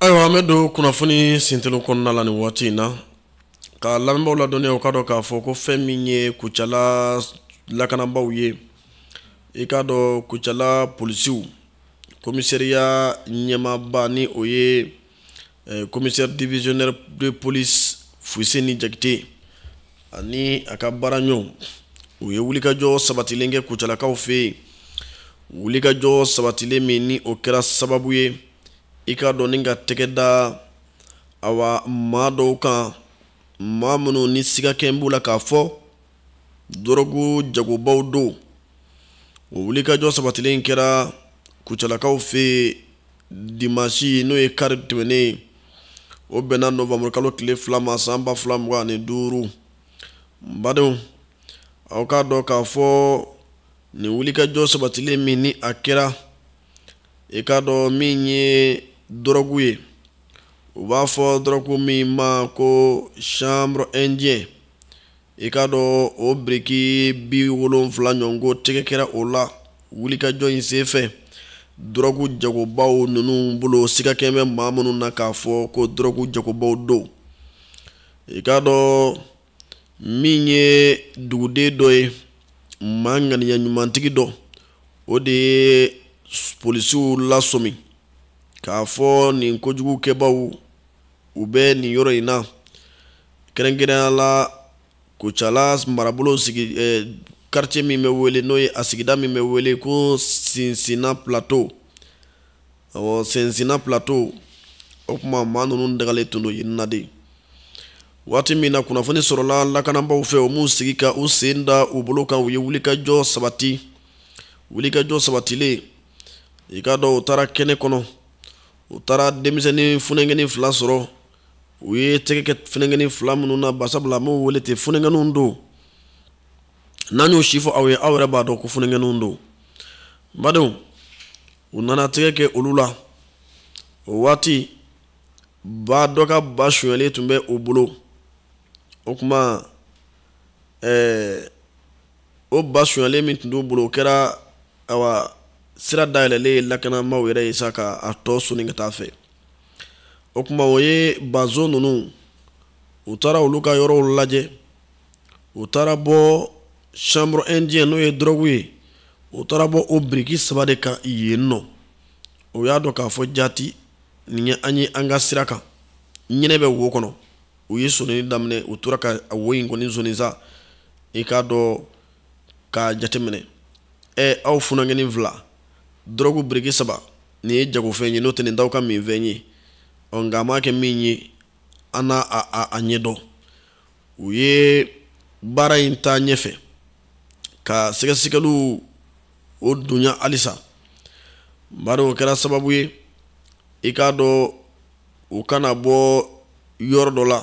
ayiwa an bɛ don kunnafoni sint kɔnɔna la ni waati in na ka lamɛnbaw ladɔnniya o ka dɔn k'a fɔ ko fɛn min ye kucala lakanabaw ye i k'a dɔn kucala polisiw komisariya ɲɛmaba ni o ye eh, komisɛri divisionnaire de police fuseni jakite ani a ka baara ɲɔgɔn u ye wulikajɔ sabatilen kɛ kucalakaw fɛ wulikajɔ sabatilen min ni o kɛra sababu ye i k'a dɔn ni ka tɛgɛ da awa maa dɔw kan maa minnu ni sigakɛ b'u la k'a fɔ dɔrɔgu jagobaw don o wulikajɔ sabatilen kɛra kucalakaw fɛ dimasi n'o ye kari tɛmɛnen o bɛnna novembre kalo tile fila ma san ba fila mugan ani duuru badenw aw k'a dɔn k'a fɔ nin wulikajɔ sabatilen min ni a kɛra i k'a dɔn min ye dɔrɔgu ye u b'a fɔ dɔrɔgu min ma ko chanvre indien i k'a dɔn o biriki bi wolonfila ɲɔgɔn ko tɛgɛ kɛra o la wulikajɔ in senfɛ dɔrɔgu jagobaw ninnu bolo sigakɛ bɛ maa minnu na k'a fɔ ko dɔrɔgu jagobaw don i k'a dɔn min ye duguden dɔ ye maa ŋaniya ɲumantigi dɔ o de ye polisiw lasɔmi k'a fɔ nin kojugu kɛbaaw u bɛ nin yɔrɔ in na kɛrɛnkɛrɛnya la kucala marabolo sigi eh, quartier min bɛ wele n'o ye a sigida min bɛ wele ko sinsina plateau ɔ sinsina plateau o kuma maa ninnu dagalen tun don yen na de waati min na kunnafoni sɔrɔla lakanabaw fɛ o m'u sigi ka u sen da u bolo kan u ye wulikajɔ sabati wulikajɔ sabatilen i k'a dɔn u taara kɛnɛ kɔnɔ u taara denmisɛnnin funɛnkɛnin fila sɔrɔ u ye tɛgɛ kɛ funɛnkɛnin fila minnu na basabula an b'u wele ten funɛnkɛninw don n'an y'o si fɔ aw ye aw yɛrɛ b'a dɔn ko funɛnkɛninw don badenw u nana tɛgɛ kɛ olu la o waati ba dɔ ka ba sonyɛlen tun bɛ o bolo o kuma ɛɛ o ba sonyɛlen min tun b'u bolo o kɛra awa sira dayɛlɛlen ye lakanabaw yɛrɛ ye sa ka a tɔ soni ka taa fɛ o kuma o ye bazo ninnu u taara olu ka yɔrɔw lajɛ u taara bɔ chanvre indien n'o ye dɔrɔgu ye u taara bɔ o biriki saba de kan yen nɔ u y'a dɔn k'a fɔ jati nin ye an ye an ka sira kan ɲinɛ bɛ wo kɔnɔ u ye sonini daminɛ u tora ka a wo in kɔni sonin sa i k'a dɔn k'a jateminɛ ɛ aw funankɛni fila dɔrɔgu biriki saba nin ye jagofɛn ye n'o tɛ nin t'aw ka minfɛn ye ɔ nka a maa kɛ min ye an n'a ɲɛdɔn u ye baara in ta ɲɛfɛ ka sɛgɛsɛgɛliw o dunya halisa bari o kɛra sababu ye i k'a dɔn u ka na bɔ yɔrɔ dɔ la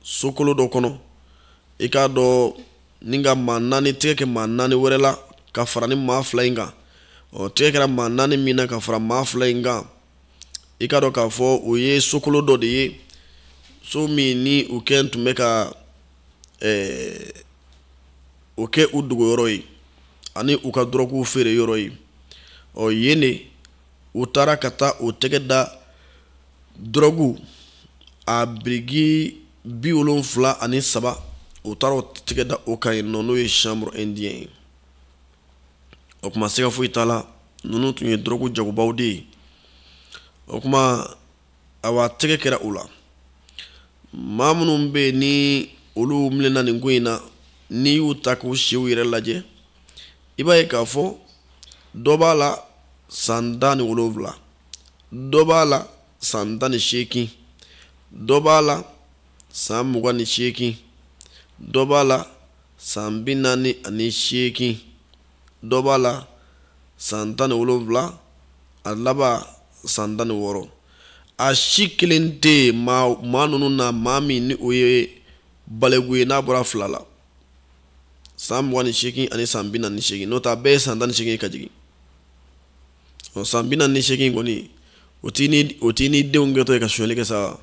sokolo dɔ kɔnɔ i k'a dɔn ni ka maa naani tɛgɛ kɛ maa naani wɛrɛ la ka fara nin maa fila in kan ɔ tɛgɛ kɛra maa naani min na ka fara maa fila in kan i k'a dɔn k'a fɔ o ye sokolo dɔ de ye so min ni u kɛ tun bɛ ka eh, o kɛ u dogo yɔrɔ ye ani u ka dɔrɔguw feere yɔrɔ ye ɔ yen de u taara ka taa u tɛgɛ da dɔrɔgu a biriki bi wolonfila ani saba u taara u tɛgɛ da o kan yen nɔ n'o ye chanvre indien ye o kuma siga foyi t'a la ninnu tun ye dɔrɔgu jagobaw de ye o kuma awa tɛgɛ kɛra u la maa minnu bɛ yen ni olu minɛna nin ko in na n'i y'u ta k'u siw yɛrɛ lajɛ i b'a ye k'a fɔ dɔ b'a la san tan ni wolonwula dɔ b'a la san tan ni seegin dɔ b'a la san mugan ni seegin dɔ b'a la san bi naani ani seegin dɔ b'a la san tan ni wolonwula a laban san tan ni wɔɔrɔ a si kelen tɛ maa ninnu na maa min ni o ye baliku ye n'a bɔra fila la san mugan ni seegin ani san bi naani ni seegin n'o tɛ a bɛɛ ye san tan ni seegin ka jigin ɔ san bi naani ni seegin kɔni o tigi ni denw kɛtɔ ye ka sonyali kɛ sa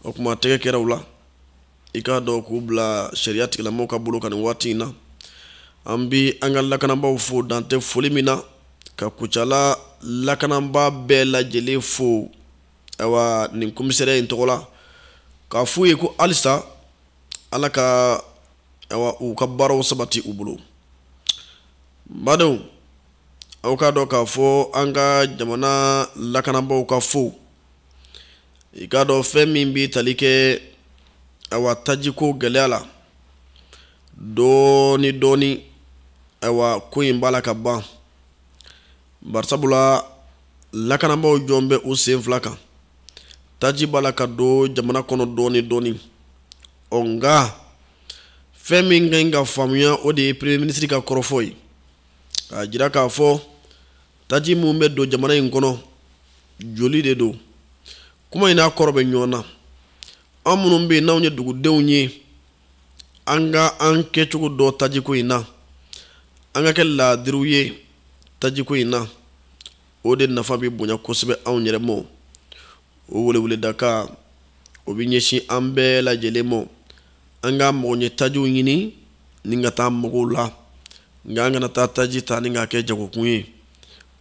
o kuma tɛgɛ kɛra u la. i k'a dɔn k'u bila sariya tigilamɔgɔw ka bolo kan nin waati in na an bi an ka lakananbaaw fo dantɛ foli min na ka kucala lakananbaa bɛɛ lajɛlen fo awa nin komisɛrɛ in tɔgɔ la k'a f'u ye ko halisa ala ka awa u ka baaraw sabati u bolo badenw aw k'a dɔn k'a fɔ an ka jamana lakananbaaw ka fo i k'a dɔn fɛn min bɛ tali kɛ awa tajiko gɛlɛya la dɔɔni dɔɔni awa ko in b'a la ka ban barisabula lakanabaaw jɔlen bɛ u sen fila kan taji b'a la ka don jamana kɔnɔ dɔɔni dɔɔni ɔ nka fɛn min ka ɲi ka faamuya o de ye premier ministre ka kɔrɔfɔ y'a jira k'a fɔ taji min bɛ don jamana in kɔnɔ joli de don kuma in n'a kɔrɔ bɛ ɲɔgɔn na an minnu bɛ yen n'anw ye dugudenw ye an ka an kɛcogo dɔn tajiko in na an ka kɛ laadiriw ye tajiko in na o de nafa bɛ bonya kosɛbɛ anw yɛrɛ ma o weleweleda kan o bɛ ɲɛsin an bɛɛ lajɛlen ma an ka magoɲɛ tajiw ɲini ni ka taa magow la nka an kana taa taji ta ni k'a kɛ jagokun ye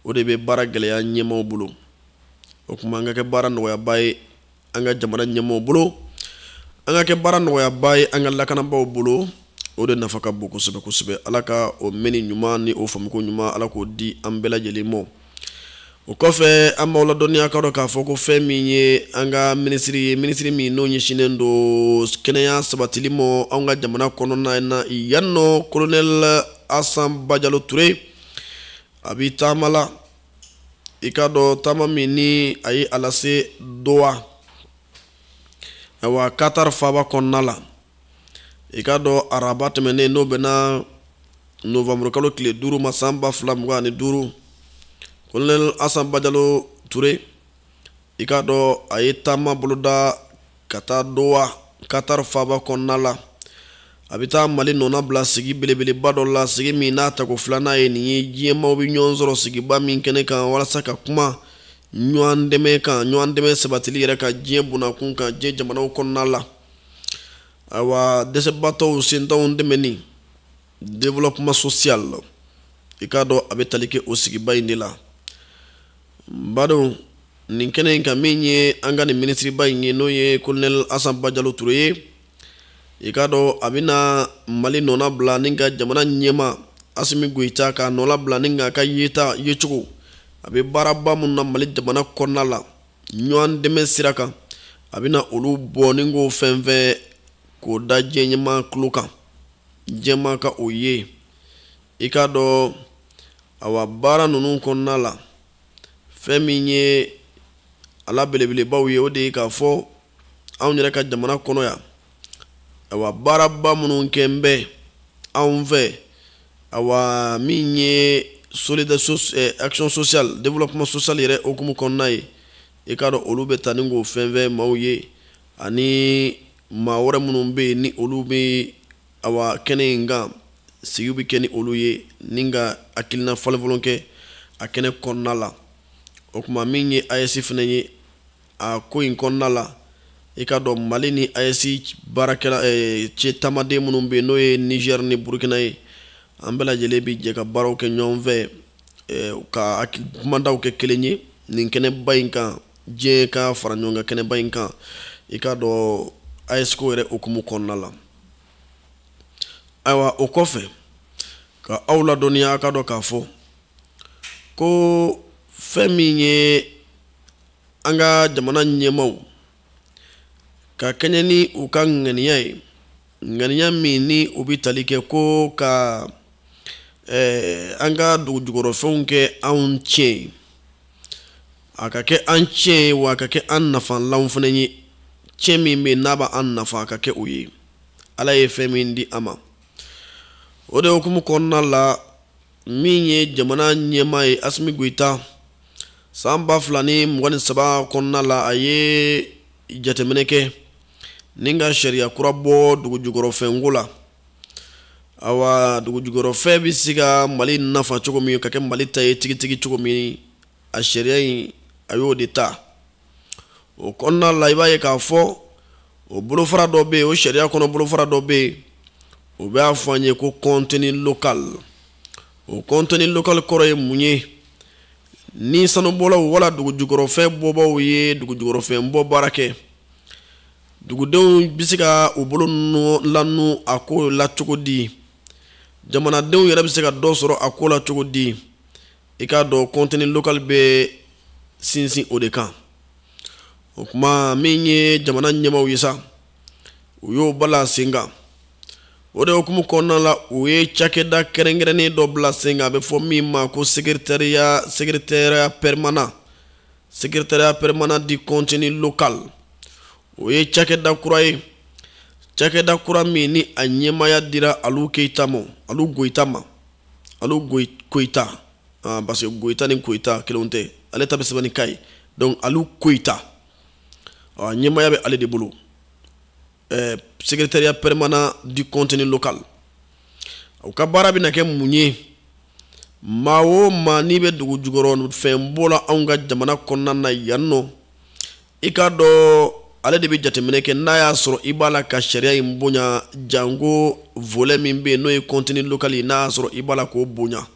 o de bɛ baara gɛlɛya ɲɛmaaw bolo o tuma an ka kɛ baara nɔgɔyabaa ye an ka jamana ɲɛmaaw bolo an ka kɛ baara nɔgɔyabaa ye an ka lakanabaaw bolo o de nafa ka bon kosɛbɛ kosɛbɛ ala ka o mɛnni ɲuman ni o faamuko ɲuman ala k'o di an bɛɛ lajɛlen ma o kɔfɛ an b'aw ladɔnniya k'a dɔn k'a fɔ ko fɛn min ye an ka minisiri ye minisiri min n'o ɲɛsinnen don kɛnɛya sabatili ma an ka jamana kɔnɔna na yan n'o kolonɛli asa bajalo ture a bɛ taama la i k'a dɔn taama min ni a ye a lase dowa ayiwa katari faaba kɔnɔna la i k'a dɔn araba tɛmɛnen n'o bɛnna novembre kalo tile duuru ma san ba fila mugan ani duuru kolonɛl asa bajalo ture i k'a dɔn a ye taama boloda ka taa dowa katar faaba kɔnɔna la a bɛ taa mali nɔna bila sigi belebeleba dɔ la sigi min n'a tako filanan ye nin ye diɲɛmaaw bɛ ɲɔgɔn sɔrɔ sigiba min kɛnɛ kan walasa ka kuma ɲɔgɔn dɛmɛ kan ɲɔgɔn dɛmɛ sabatili yɛrɛ kan diɲɛ bunakun kan diɲɛ jamanaw kɔnɔna la ayiwa dɛsɛbaatɔw sentanw dɛmɛni développement social i k'a dɔn a bɛ tali kɛ o sigiba in de la n badenw nin kɛnɛ in kan min ye an ka nin minisiriba in ye n'o ye kolonɛli asa bajalo ture ye i k'a dɔn a bɛna mali nɔna bila ni ka jamana ɲɛmaa asimi goyita k'a nɔla bila ni k'a ka yeta yecogo a bɛ baaraba minnu na mali jamana kɔnɔna la ɲɔgɔn dɛmɛ sira kan a bɛna olu bɔ ni k'o fɛnfɛn k'o da diɲɛ ɲɛmaa tulo kan jɛma ka o ye i k'a dɔn awa baara ninnu kɔnɔna la fɛn min ye a la belebelebaw ye o de ye k'a fɔ anw yɛrɛ ka jamana kɔnɔ yan awa baaraba minnu kɛlen bɛ anw fɛ awa min ye solide so, eh, action sociale développement social yɛrɛ hukumu kɔnɔna ye i k'a dɔn olu bɛ tani k'o fan fɛ maaw ye ani maa wɛrɛ minnu bɛ yen ni olu bɛ awa kɛnɛ in kan sigiw bɛ kɛ ni olu ye ni ka hakilina falenfalen kɛ a kɛnɛ kɔnɔna la o kuma min ye AES fana ye a ko in kɔnɔna la i k'a dɔn mali ni ayɛsi baarakɛla eh, ce tamaden minnu bɛ yen n'o ye nigɛr ni burukina ye an bɛɛ lajɛlen bɛ jɛ ka baaraw kɛ ɲɔgɔn fɛ eh, ka kumandaw kɛ kelen ye nin kɛnɛba in kan diɲɛ ka fara ɲɔgɔn kan kɛnɛba in kan i k'a dɔn ayɛsiko yɛrɛ hukumu kɔnɔna la awa o kɔfɛ ka aw ladɔnniya k'a dɔn k'a fɔ ko fɛn min ye an ka jamana ɲɛmaw ka kɛɲɛ ni u ka ŋaniya ye ŋaniya min ni o bɛ tali kɛ ko ka eh, an ka dugujukɔrɔfɛnw kɛ anw ciyɛn ye a ka kɛ an ciyɛn ye wa a ka kɛ an nafalanw fana ye ciyɛn min bɛ yen n'a b'an nafa a ka kɛ o ye ala ye fɛn min di an ma o de hukumu kɔnɔna la min ye jamana ɲɛmaa ye asimi goyita san ba fila ni mugan ni saba kɔnɔna la a ye jateminɛ kɛ ni ka sariya kura bɔ dugujukɔrɔfɛnko la awa dugujukɔrɔfɛn bɛ se ka mali nafa cogo min ka kɛ mali ta ye tigitigi cogo min a sariya in a y'o de ta o kɔnɔna la i b'a ye k'a fɔ o bolofara dɔ bɛ yen o sariya kɔnɔ bolofara dɔ bɛ yen o b'a fɔ an ye ko contenu local o contenu local kɔrɔ ye mun ye ni sanubɔlaw wala dugujukɔrɔfɛn bɔbaaw ye dugujukɔrɔfɛn bɔ baara kɛ dugudenw bɛ se ka u bolo lanu a ko la cogo di jamanadenw yɛrɛ bɛ se ka dɔ sɔrɔ a ko la cogo di i k'a dɔn contenu local bɛ sinsin o de kan o kuma min ye jamana ɲɛmaaw ye sa u y'o bala sen kan o de hukumu kɔnɔna la u ye cakɛda kɛrɛnkɛrɛnnen dɔ bila sen kan a bɛ fɔ min ma ko secrétariat secrétariat permanent secrétariat permanent du contenu local o ye cakɛda kura ye cakɛda kura min ni a ɲɛmaya dira alu keyita ma alu goyita ma alu koyita ah, parce que goyita ni koyita kelen tɛ ale ta bɛ sɛbɛn ni ka ye donc alu koyita a ɲɛmaya bɛ ale de bolo eh, secrétariat permanent du contenu local u ka baara bɛna kɛ mun ye maa o maa n'i bɛ dugu jukɔrɔ fɛn bɔ la anw ka jamana kɔnɔna na yan nɔ i k'a dɔn ale de bɛ jateminɛ kɛ n'a y'a sɔrɔ i b'a la ka sariya in bonya janko volɛ min bɛ yen n'o ye kɔntini lokali ye n'a y'a sɔrɔ i b'a la k'o bonya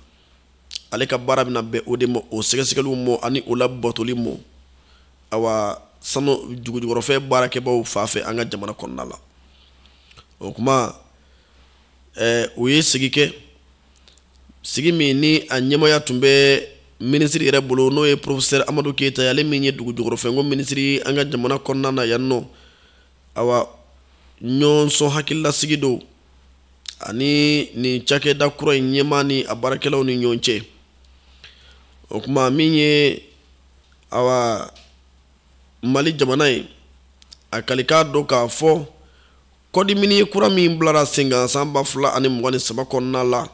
ale ka baara bɛna bɛn o de ma o sɛgɛsɛgɛliw mɔ ani o labatoli mɔ awa sanu dugujukɔrɔfɛn baarakɛbaaw fan fɛ an ka jamana kɔnɔna la o kuma ɛɛ u ye sigi kɛ sigi min ni a ɲɛmaaya tun bɛ minisiri yɛrɛ bolo n'o ye porofesɛri amadu keyita ye ale min ye dugu jukɔrɔfɛnko minisiri an ka jamana kɔnɔna na yan nɔ awa ɲɔgɔnsɔn hakililasigi don a ni nin cakɛda kura in ɲɛmaa ni a baarakɛlaw ni ɲɔgɔn cɛ o kuma min ye awa mali jamana ye a kalikan don k'a fɔ kɔdi miniye kura min bilara sen kan san ba fila ani mugan ni saba kɔnɔna la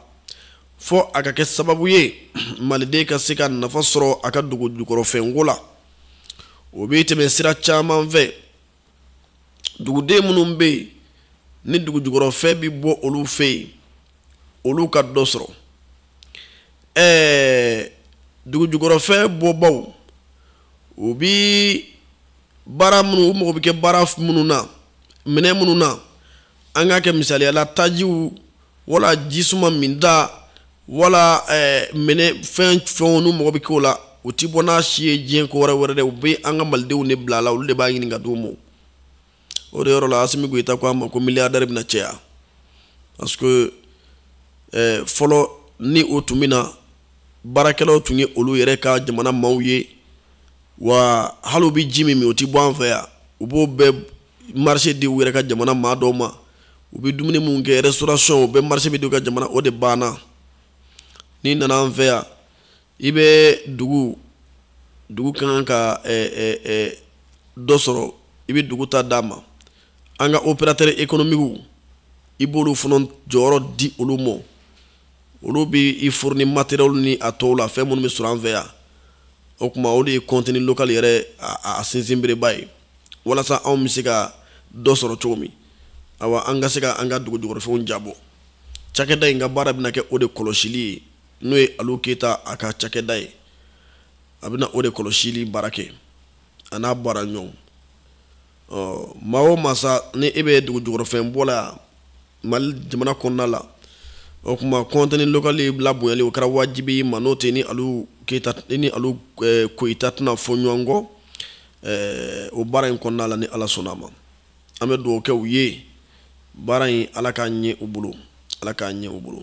fɔ a ka kɛ sababu ye maliden ka se ka nafa sɔrɔ a ka dugu jukɔrɔfɛnko la o bɛ tɛmɛ sira caman fɛ duguden minnu bɛ yen ni dugu jukɔrɔfɛn bɛ bɔ olu fɛ yen olu ka dɔ sɔrɔ ɛɛ dugujukɔrɔfɛn bɔbaw u bi baara minnu u mago bɛ kɛ baara minnu na minɛn minnu na an k'a kɛ misaliya la tajiw wala jisuma minta wala ɛɛ minɛn fɛn fɛnw n'u mago bɛ kɛ o la u ti bɔ n'a si ye diɲɛ ko wɛrɛ wɛrɛ dɛ u bɛ an ka malidenw de bila a la olu de b'a ɲini ka d'u ma o de yɔrɔ la asimi goyita ko a ma ko miliyardɛri bɛna cɛya parce que eh, fɔlɔ ni o tun bɛ na baarakɛlaw tun ye olu yɛrɛ ka jamana maaw ye wa hali u bɛ ji min min o tɛ bɔ an fɛ yan u b'o bɛɛ marise di u yɛrɛ ka jamana maa dɔw ma u bɛ dumuni minnu kɛ restauration o bɛɛ marise bɛ di u ka jamana o de banna n'i nana an fɛ yan i bɛ dugu dugu ka kan ka dɔ sɔrɔ i bɛ dugu ta d'a ma an ka operatɛri ekonomikiw i b'olu fana jɔyɔrɔ di olu ma olu bɛ i furuni materiyɛli ni a tɔw la fɛn minnu bɛ sɔrɔ an fɛ yan o kuma o de ye kɔntini lokali yɛrɛ a sinsinbereba ye walasa anw bɛ se ka dɔ sɔrɔ cogo min awa an ka se ka an ka dugu jukɔrɔfɛnw jabɔ cakɛda in ka baara bɛna kɛ o de kɔlɔsili ye n'o ye alu keyita a ka cakɛda ye a bɛna o de kɔlɔsili baara kɛ a n'a baara ɲɔgɔn maa o maa sa ni e bɛ dugu jukɔrɔfɛn bɔ la yan mali jamana kɔnɔna la o kuma kɔntini lokali labonyali o kɛra wajibi i ma n'o tɛ ni alu keyita ni alu eh, koyita tɛna fɔ ɲɔgɔn kɔ eh, o baara in kɔnɔna la ni ala sɔnna a ma an bɛ dugawu kɛ u ye baara in ala k'a ɲɛ u bolo ala k'a ɲɛ u bolo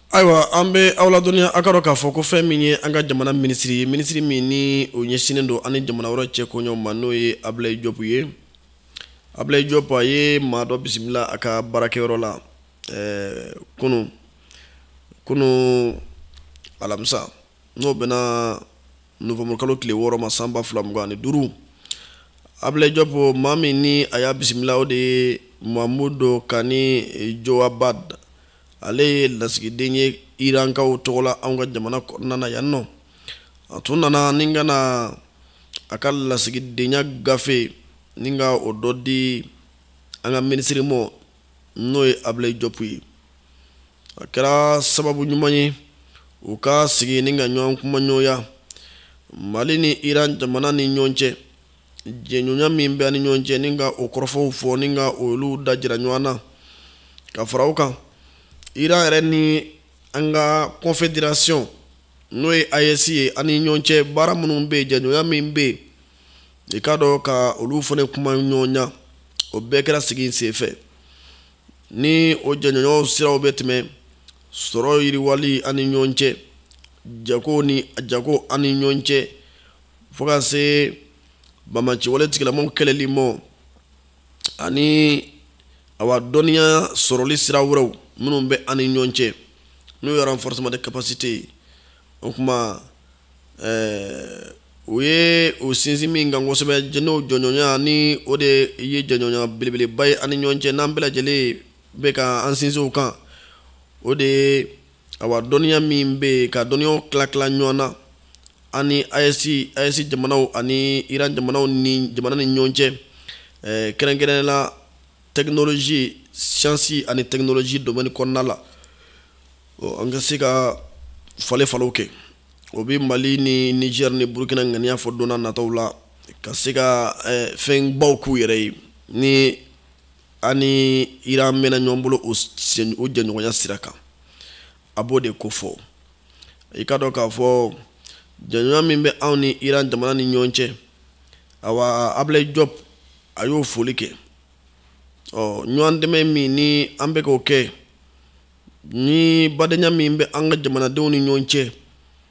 ayiwa an bɛ aw ladɔnniya a ka dɔn k'a fɔ ko fɛn min ye an ka jamana minisiri ye minisiri min ni o ɲɛsinnen don an ni jamana wɛrɛw cɛ koɲɛw ma n'o ye abilayi jɔpu ye abilayi jɔpu a ye maa dɔ bisimila a ka baarakɛyɔrɔ la ɛɛ kunu kunu alamisa n'o bɛnna nowanburukalo tile wɔɔrɔ ma san ba fila mugan ani duuru abilayi jɔpu maa min ni a y'a bisimila o de ye mamudu kani jowabad ale ye lasigiden ye irankaw tɔgɔ la anw ka jamana kɔnɔna na yan nɔ a tun nana ni ka na a ka lasigidenya gafe ni ka o dɔ di an ka minisiri mɔ n'o ye abilayi jɔpu ye a kɛra sababu ɲuman ye u ka sigi ni ka ɲɔgɔn kumaɲɔgɔnya mali ni iran jamana ni ɲɔgɔn cɛ jɛɲɔgɔnya min bɛ an ni ɲɔgɔn cɛ ni ka o kɔrɔfɔw fɔ ni ka olu dajira ɲɔgɔn na ka fara o kan iran yɛrɛ ni an ka confederation n'o ye AES ye an ni ɲɔgɔn cɛ baara minnu bɛ yen jɛɲɔgɔnya min bɛ yen i k'a dɔn ka olu fana kumaɲɔgɔnya o bɛɛ kɛra sigi in senfɛ ni o jɛɲɔgɔnyaw siraw bɛ tɛmɛ sɔrɔ yiriwali an ni ɲɔgɔn cɛ jago ni jago an ni ɲɔgɔn cɛ fo ka se banbaanciwale tigilamɔgɔw kɛlɛli mɔ ani awa dɔnniya sɔrɔli sira wɛrɛw minnu bɛ an ni ɲɔgɔn cɛ n'o ye renforcement de capacité ye o kuma ɛɛ u ye u sinsin min kan kosɛbɛ n'o jɛɲɔgɔnya ni o de ye jɛɲɔgɔnya belebeleba ye an ni ɲɔgɔn cɛ n'an bɛɛ lajɛlen bɛ ka an sinsin o kan o de ye awa dɔnniya min bɛ yen ka dɔnniyaw tilatila ɲɔgɔn na an ni ayɛsi ayɛsi jamanaw ani iran jamanaw ni jamana ni ɲɔgɔn cɛ ɛɛ kɛrɛnkɛrɛnnenya la tɛkinolozi siyansi ani tɛkinolozi domɛni kɔnɔna la an ka se ka falenfalenw kɛ o bɛ mali ni nizɛri ni burukina ŋaniya fɔ don nataw la ka se ka fɛnbaw k'u yɛrɛ ye ni an ni iran mɛnna ɲɔgɔn bolo o jɛɲɔgɔnya sira kan a b'o de ko fɔ i k'a dɔn k'a fɔ jɛɲɔgɔnya min bɛ anw ni iran jamana ni ɲɔgɔn cɛ awa abilayi jɔpu a y'o foli kɛ ɔ ɲɔgɔn dɛmɛ min ni an bɛ k'o kɛ ni badenya min bɛ an ka jamanadenw ni ɲɔgɔn cɛ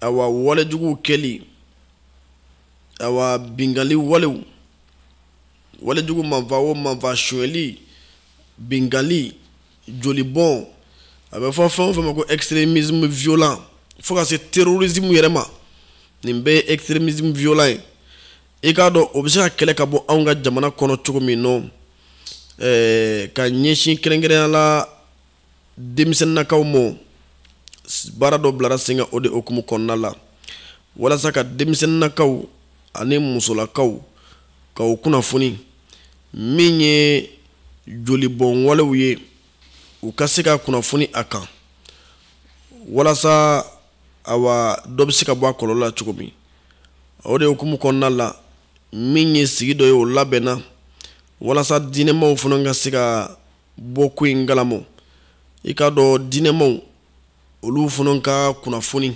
awa walejuguw kɛli awa binkanni walew walejugu maafaa o maafaa sonyɛli binkanni jolibɔn a bɛ fɔ fɛn o fɛn ma ko extrémisme violent fo ka se terrorisme yɛrɛ ma nin bɛɛ ye extrémisme violent ye i k'a dɔn o bɛ se ka kɛlɛ ka bɔ anw ka jamana kɔnɔ cogo min nɔ ɛɛ ka ɲɛsin kɛrɛnkɛrɛnya la denmisɛnninnakaw ma baara dɔ bilara sen kan o de hukumu kɔnɔna la walasa ka denmisɛnninnakaw ani musolakaw ka o kunnafoni min ye jolibɔn walew ye u ka se ka kunnafoni a kan walasa awa dɔ bɛ se ka bɔ a kɔlɔlɔ la cogo min o de hukumu kɔnɔna la min ye sigi dɔ ye o labɛnna walasa diinɛmaw fana ka se ka bɔ ko in kalama i k'a dɔn diinɛmaw olu fana ka kunnafoni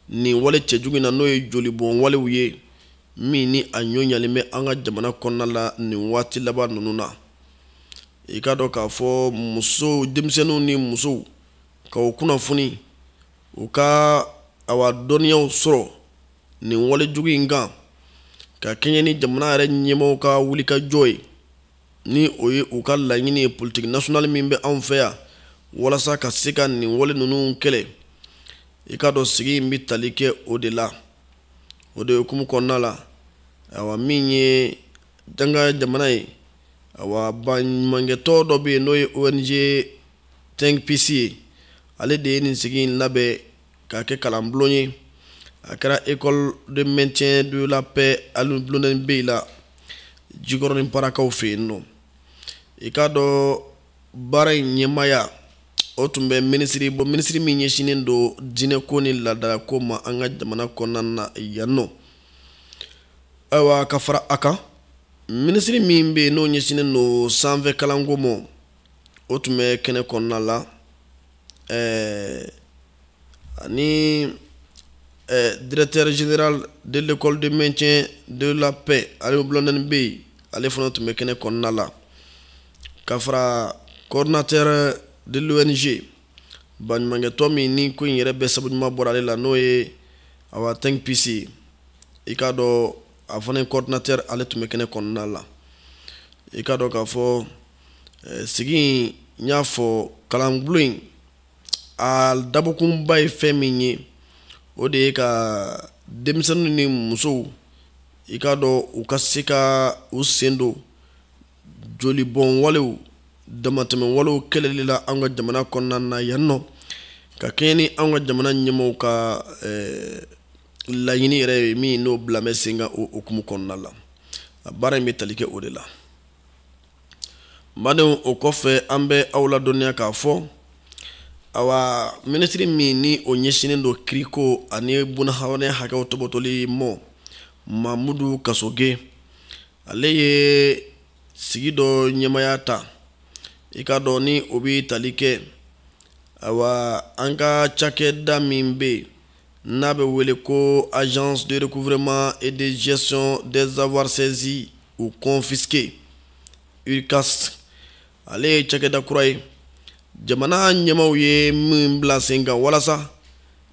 nin wale cɛjugu in na n'o ye jolibɔn walew ye min ni a ɲɔ ɲalen bɛ an ka jamana kɔnɔna la nin waati laban ninnu na i k'a dɔn k'a fɔ muso denmisɛnninw ni musow ka o kunnafoni u ka awa dɔnniyaw sɔrɔ nin walejugu in kan ka kɛɲɛ ni jamana yɛrɛ ɲɛmaaw ka wulikajɔ ye ni o ye u ka laɲini ye politique nationale min bɛ anw fɛ yan walasa ka se ka nin wale ninnu kɛlɛ i k'a dɔn sigi in bɛ tali kɛ o de la o de hukumu kɔnɔna la awa min ye danga jamana ye awa baɲumankɛtɔn dɔ bɛ yen n'o ye ONG Think Peace ye ale de ye nin sigi in labɛn k'a kɛ kalanbulon ye a kɛra école de maintien de la paix Alioune Blondin Beye la Jikɔrɔni Parakaw fɛ yen nɔ i k'a dɔn baara in ɲɛmaaya o tun bɛ minisiri bolo minisiri min ɲɛsinnen don diinɛko ni laadalako ma an ka jamana kɔnɔna na yan nɔ ayiwa ka fara a kan minisiri min bɛ yen n'o ɲɛsinnen don sanfɛ kalanko ma o tun bɛ kɛnɛ kɔnɔna la ɛɛ ani ɛɛ directeur général de l'école de maintien de la paix Alioune Blondin Beye ale fana tun bɛ kɛnɛ kɔnɔna la ka fara coordinateur de l'ONG baɲumankɛtɔn min ni ko in yɛrɛ bɛɛ sabu ɲuman bɔra ale la n'o ye awa Think Peace i k'a dɔn a fana coordinateur ale tun bɛ kɛnɛ kɔnɔna la i k'a dɔn k'a fɔ sigi in n y'a fɔ kalanbulon in a dabɔkunba ye fɛn min ye o de ye ka denmisɛnninw ni musow i k'a dɔn u ka se ka u sen don jolibɔn walew damatɛmɛ walew kɛlɛli la an ka jamana kɔnɔna na yan nɔ ka kɛɲɛ ni an ka jamana ɲɛmaaw ka eh, laɲini yɛrɛ ye min n'o bilalen bɛ sen kan o hukumu kɔnɔna la a baara in bɛ tali kɛ o de la badenw o kɔfɛ an bɛ aw ladɔnniya k'a fɔ awa minisiri min ni o ɲɛsinnen don kiriko ani bunahadamaden hakɛw topotoli ma mamudu kasoge ale ye sigi dɔ ɲɛmaya ta i k'a dɔn ni o bɛ tali kɛ awa an ka cakɛda min bɛ yen n'a bɛ wele ko agence de recouvrement et de gestion des avoirs saisis ou confisqués ARGASC ale ye cakɛda kura ye jamana ɲɛmaaw ye min bila sen kan walasa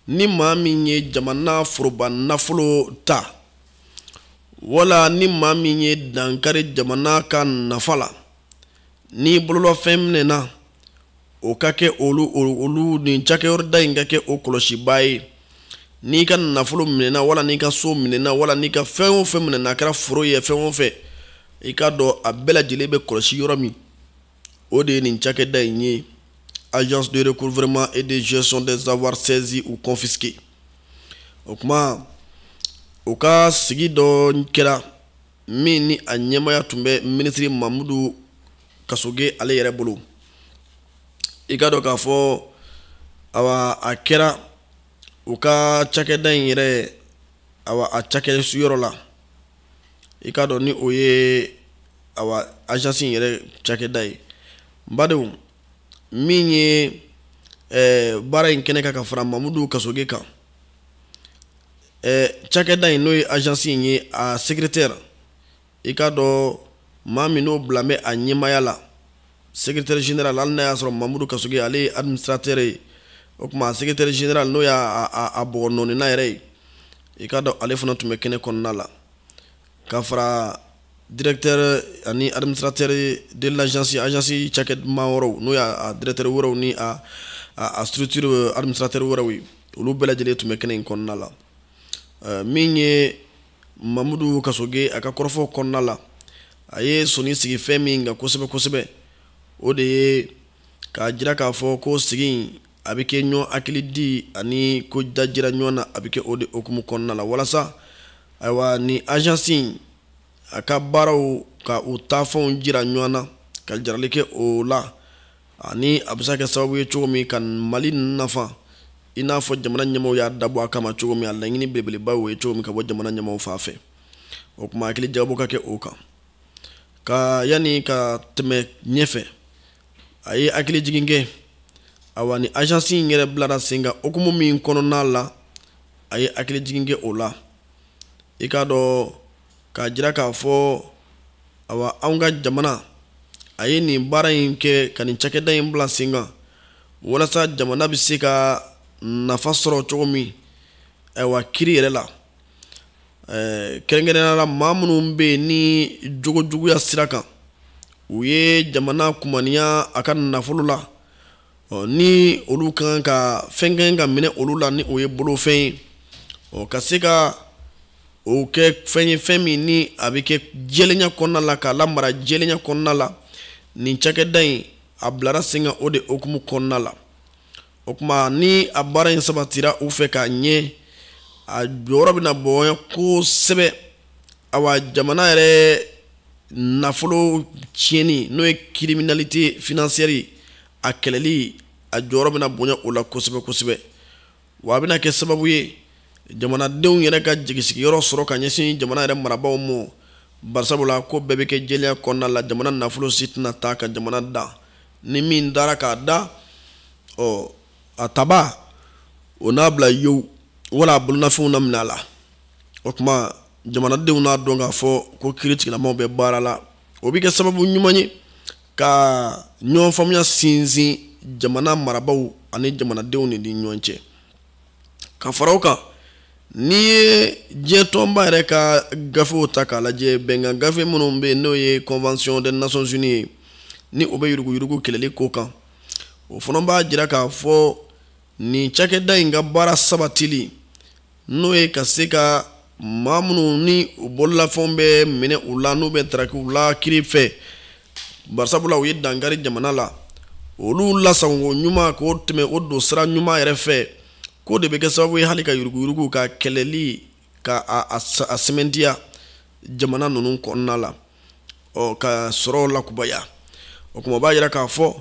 ni maa min ye jamana foroba nafolo ta wala ni maa min ye dankari jamana ka nafa la n'i bololɔfɛn minɛna o ka kɛ olu olu nin cakɛyɔrɔda in ka kɛ o kɔlɔsibaa ye n'i ka nafolo minɛna wala n'i ka so minɛna wala n'i ka fɛn o fɛn minɛna a kɛra foro ye fɛn o fɛn i k'a dɔn a bɛɛ lajɛlen bɛ kɔlɔsi yɔrɔ min o de ye nin cakɛda in ye agence de recouvrement et de gestion des avoirs saisis ou confisqués o kuma o ka sigi dɔ kɛra min ni a ɲɛmaya tun bɛ minisiri mamudu kasoge ale yɛrɛ bolo i k'a dɔn k'a fɔ awa a kɛra u ka cakɛda in yɛrɛ awa a cakɛ sigiyɔrɔ la i k'a dɔn ni o ye awa agence in yɛrɛ cakɛda ye n badenw min ye ɛɛ baara in kɛnɛ kan ka fara mamudu kasoge kan ɛ cakɛda in n'o ye agence in ye a secrétaire i k'a dɔn maa min n'o bila bɛ a ɲɛmaya la secrétaire général hali n'a y'a sɔrɔ mamudu kasoge ale ye administrateur ye o kuma a secrétaire général n'o y'a a bɔgɔnɔɔnina yɛrɛ ye i k'a dɔn ale fana tun bɛ kɛnɛ kɔnɔna la ka fara directeur ani administrateur de l'agence agence cakɛ ɲɛmaa wɛrɛw n'o y'a directeur wɛrɛw ni a a structure euh, administrateur wɛrɛw ye olu bɛɛ lajɛlen tun bɛ kɛnɛ in kɔnɔna la euh, min ye mamudu kasoge a ka kɔrɔfɔ kɔnɔna la a ye soni sigi fɛn min kan kosɛbɛ kosɛbɛ o de ye k'a jira k'a fɔ ko sigi in a bɛ kɛ ɲɔgɔn hakilidi ani ko dajira ɲɔgɔn na a bɛ kɛ o de hukumu kɔnɔna la walasa ayiwa ni agence in a ka baaraw ka u taafɛnw jira ɲɔgɔn na ka jarali kɛ o la ani a bɛ se ka kɛ sababu ye cogo min ka mali nafa i n'a fɔ jamana ɲɛmaaw y'a dabɔ a kama cogo min a laɲini belebeleba o ye cogo min ka bɔ jamana ɲɛmaaw fan fɛ o tuma hakili jagabɔ ka kɛ o kan ka yanni ka tɛmɛ ɲɛfɛ a ye hakili jigin kɛ awa ni agence in yɛrɛ bilara sen kan hukumu min kɔnɔna la a ye hakili jigin kɛ o la i k'a dɔn k'a jira k'a fɔ awa anw ka jamana a ye nin baara in kɛ ka nin cakɛda in bila sen kan walasa jamana bɛ se ka nafa sɔrɔ cogo min ayiwa kiri yɛrɛ la eh, kɛrɛnkɛrɛnya la maa minnu bɛ yen ni jogojuguya sira kan u ye jamana kumaniya a ka nafolo la ni olu ka kan ka fɛn kɛ ka minɛ olu la ni o ye bolofɛn ye ɔ ka se ka o kɛ fɛn ye fɛn min ni a bɛ kɛ jɛlenya kɔnɔna la k'a lamara jɛlenya kɔnɔna la nin cakɛda in a bilara sen kan o de hukumu kɔnɔna la o kuma ni a baara in sabatira u fɛ k'a ɲɛ a jɔyɔrɔ bɛna bonya kosɛbɛ awa jamana yɛrɛ nafolo tiɲɛni n'o ye criminalité financière a kɛlɛli a jɔyɔrɔ bɛna bonya o la kosɛbɛ kosɛbɛ wa a bɛna kɛ sababu ye jamanadenw yɛrɛ ka jigisigiyɔrɔ sɔrɔ ka ɲɛsin jamana yɛrɛ marabaaw ma barisabula ko bɛɛ bɛ kɛ jɛlenya kɔnɔna la jamana nafolo si tɛna taa ka jamana dan ni min taara k'a dan ɔ a tabaa o n'a bila yewu wala a bolonafɛnw na minɛ a la o kuma jamanadenw n'a dɔn k'a fɔ ko kiri tigilamaaw bɛ baara la o bɛ kɛ sababu ɲuman ye ka ɲɔgɔn faamuya sinsin jamana marabaaw ani jamanadenw de ni ɲɔgɔn cɛ ka fara o kan n'i ye diɲɛ tɔnba yɛrɛ ka gafew ta k'a lajɛ bɛnkan gafe minnu bɛ yen n'o ye convention des nations unies ye ni o bɛ yuruguyurugu kɛlɛli ko kan o fana b'a jira k'a fɔ nin cakɛda in ka baara sabatili n'o ye ka se ka maa minnu ni u bololafɛnw bɛ minɛ u la n'u bɛ taraki u la kiri fɛ barisabula u ye dankari jamana la olu lasagon ɲuman k'o tɛmɛ o don sira ɲuman yɛrɛ fɛ k'o de bɛ kɛ sababu ye hali ka yuruguyurugu ka kɛlɛli ka a sɛmɛntiya jamana ninnu kɔnɔna la ɔ ka sɔrɔ lakubaya o kuma b'a yira k'a fɔ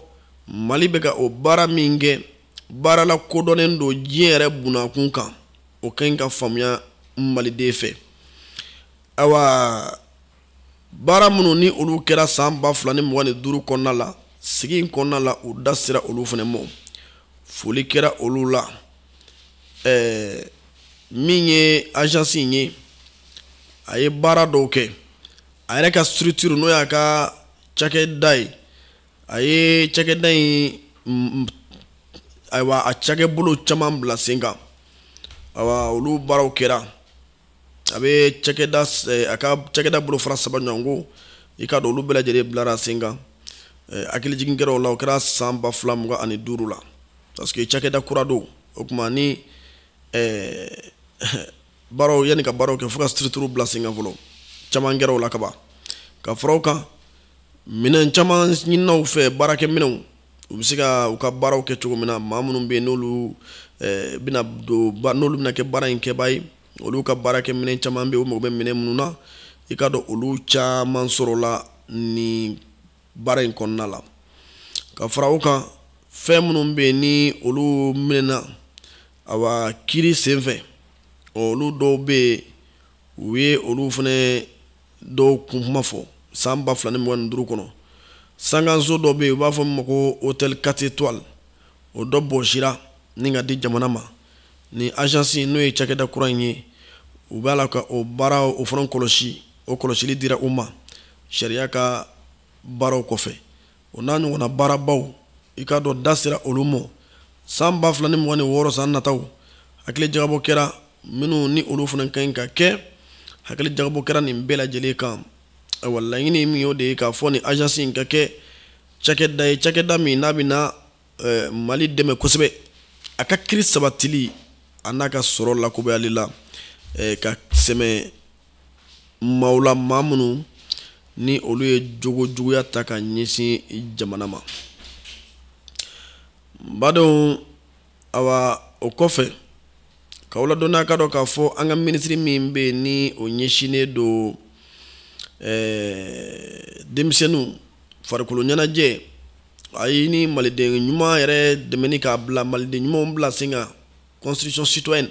mali bɛ ka o baara min kɛ baara lakodɔnnen don diɲɛ yɛrɛ bunakun kan o ka ɲi ka faamuya maliden fɛ awa baara minnu ni olu kɛra san ba fila ni mugan ni duuru kɔnɔna la sigi in kɔnɔna la u da sera olu fana ma foli kɛra olu la ɛɛ min ye agence in ye a ye baara dɔw kɛ a yɛrɛ ka structure n'o y'a ka cakɛda ye a ye cakɛda in ayiwa a cakɛbolo caman bila sen kan awa olu baaraw kɛra a bɛ cakɛda eh, a ka cakɛda bolofara saba ɲɔgɔn ko i k'a dɔn olu bɛɛ lajɛlen bilara sen kan eh, hakili jigin kɛra o la o kɛra san ba fila mugan ani duuru la parce que cakɛda kura don o tuma ni eh, baaraw yanni ka baaraw kɛ fo ka structure bila sen kan fɔlɔ caman kɛra o la kaban ka fara o kan minɛn caman ɲinina u fɛ baarakɛ minɛnw u bɛ se ka u ka baaraw kɛ cogo min na maa minnu bɛ yen n'olu eh, bɛna don n'olu bɛna kɛ baara in kɛbaa ye olu ka baarakɛ minɛn caman bɛ yen u mago bɛ minɛn minnu na i k'a dɔn olu caman sɔrɔla nin baara in kɔnɔna la ka fara o kan fɛn minnu bɛ yen ni olu minɛna awa kiri senfɛ olu dɔw bɛ yen u ye olu fana dɔw kun kuma fɔ san ba fila ni mugan ni duuru kɔnɔ sankanso dɔ bɛ yen u b'a fɔ min ma ko hôtel quatre étoiles o dɔ bɔsira ni ka di jamana ma ni agence n'o ye cakɛda kura in ye u b'a la ka o baara o fana kɔlɔsi o kɔlɔsili dira u ma sariya ka baaraw kɔfɛ o n'a ɲɔgɔnna baarabaw i k'a dɔn da sera olu ma san ba fila ni mugan ni wɔɔrɔ san nataw hakili jagabɔ kɛra minnu ni olu fana ka ɲi ka kɛ hakili jagabɔ kɛra nin bɛɛ lajɛlen kan ayiwa laɲini min y'o de ye k'a fɔ nin agence in ka kɛ cakɛda ye cakɛda min n'a bɛna eh, mali dɛmɛ kosɛbɛ a ka kiri sabatili an'a ka sɔrɔ lakobayali la eh, ka sɛmɛ maaw la maa minnu ni olu ye jogo juguya ta ka ɲɛsin jamana ma badenw awa o kɔfɛ k'aw ladɔnniya ka dɔn k'a fɔ an ka minisiri min bɛ yen ni o ɲɛsinnen don ɛɛ denmisɛnninw farikolo ɲɛnajɛ a ye ni maliden ɲuman yɛrɛ dɛmɛni k'a bila maliden ɲumanw bila sen kan construction citoyenne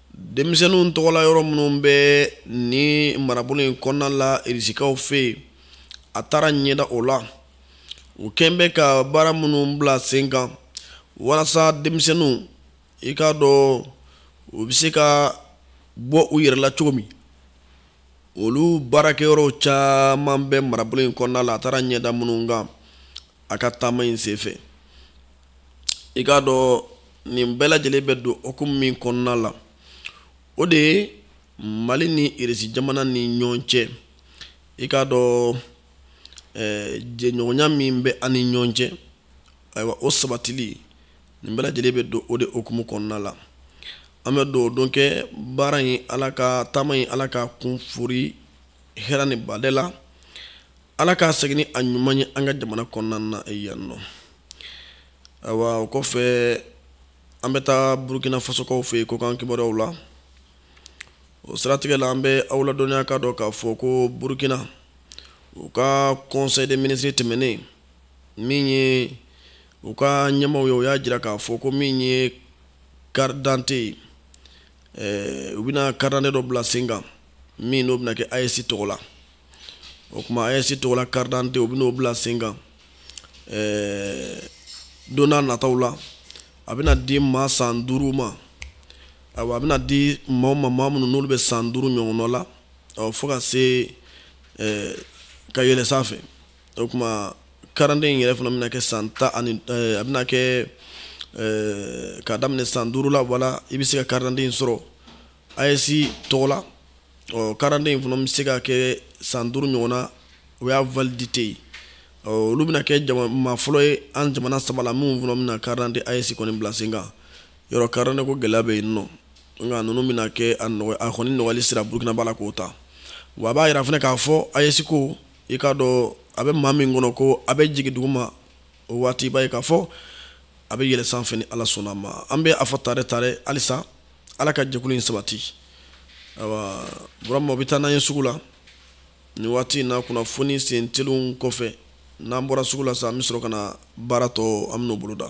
denmisɛnninw tɔgɔla yɔrɔ minnu bɛ nin marabolo in kɔnɔna la irisikaw fɛ yen a taara ɲɛda o la u kɛn bɛ ka baara minnu bila sen kan walasa denmisɛnninw i k'a dɔn u bɛ se ka bɔ u yɛrɛ la cogo min olu baarakɛyɔrɔw caman bɛ marabolo in kɔnɔna la a taara ɲɛda minnu kan a ka taama in senfɛ i k'a dɔn nin bɛɛ lajɛlen bɛ don hukumu min kɔnɔna la o de ye mali ni irisi jamana ni ɲɔgɔn cɛ i k'a dɔn eh, jɛɲɔgɔnya min bɛ an ni ɲɔgɔn cɛ ayiwa o sabatili nin bɛɛ lajɛlen bɛ don o de hukumu kɔnɔna la an bɛ dugawu don kɛ baara in ala ka taama in ala k'a kun fori hɛrɛ ni badɛ la ala k'a segin ni a ɲuman ye an ka jamana kɔnɔna na yan nɔ ayiwa o kɔfɛ an bɛ taa burukina fasokaw fɛ yen kɔkan kibaruyaw la o siratigɛ la an bɛ aw ladɔnniya k'a dɔn k'a fɔ ko burukina u ka conseil des ministres tɛmɛnen min ye u ka ɲɛmaaw ye u y'a jira k'a fɔ ko min ye carte d'identité ye ɛɛ u bɛna carte d'identité dɔ bila sen kan min n'o bɛna kɛ AES tɔgɔ la. o kuma AES tɔgɔ la carte d'identité u bɛn'o bila sen kan ɛɛ don n'a nataw la a bɛna di maa san duuru ma ayiwa a bɛna di maa ma maa minnu n'olu bɛ san duuru ɲɔgɔnna la ɔ fo ka se ɛɛ ka yɛlɛ sanfɛ o kuma carte d'identité in yɛrɛ fana bɛna kɛ san tan ani ɛɛ a bɛna kɛ ɛɛ k'a daminɛ san duuru la wala i bɛ se ka carte d'identité in sɔrɔ AES tɔgɔ la. ɔ carte d'identité in fana bɛ se ka kɛ san duuru ɲɔgɔn na o y'a validité ye olu bɛna kɛ jama maa fɔlɔ ye an jamana saba la minnu fana bɛna carte d'identité AES kɔni bila sen kan yɔrɔ carte d'identité ko gɛlɛya bɛ yen nɔ nka ninnu bɛna kɛ a nɔgɔ a kɔni nɔgɔyali sira burukina b'a la k'o ta wa a b'a yira fana k'a fɔ AES ko i k'a dɔn a bɛ maa min kɔnɔ ko a bɛ jigin duguma o waati i b'a ye k'a fɔ a bɛ yɛlɛ sanfɛ ni ala sɔnna ma an bɛ a fɔ tare tare halisa ala ka jɛkulu in sabati awa burama o bɛ taa n'an ye sugu la nin waati in na kunnafoni sen telenw kɔfɛ n'an bɔra sugu la sa an bɛ sɔrɔ ka na baara tɔ an bɛn'o boloda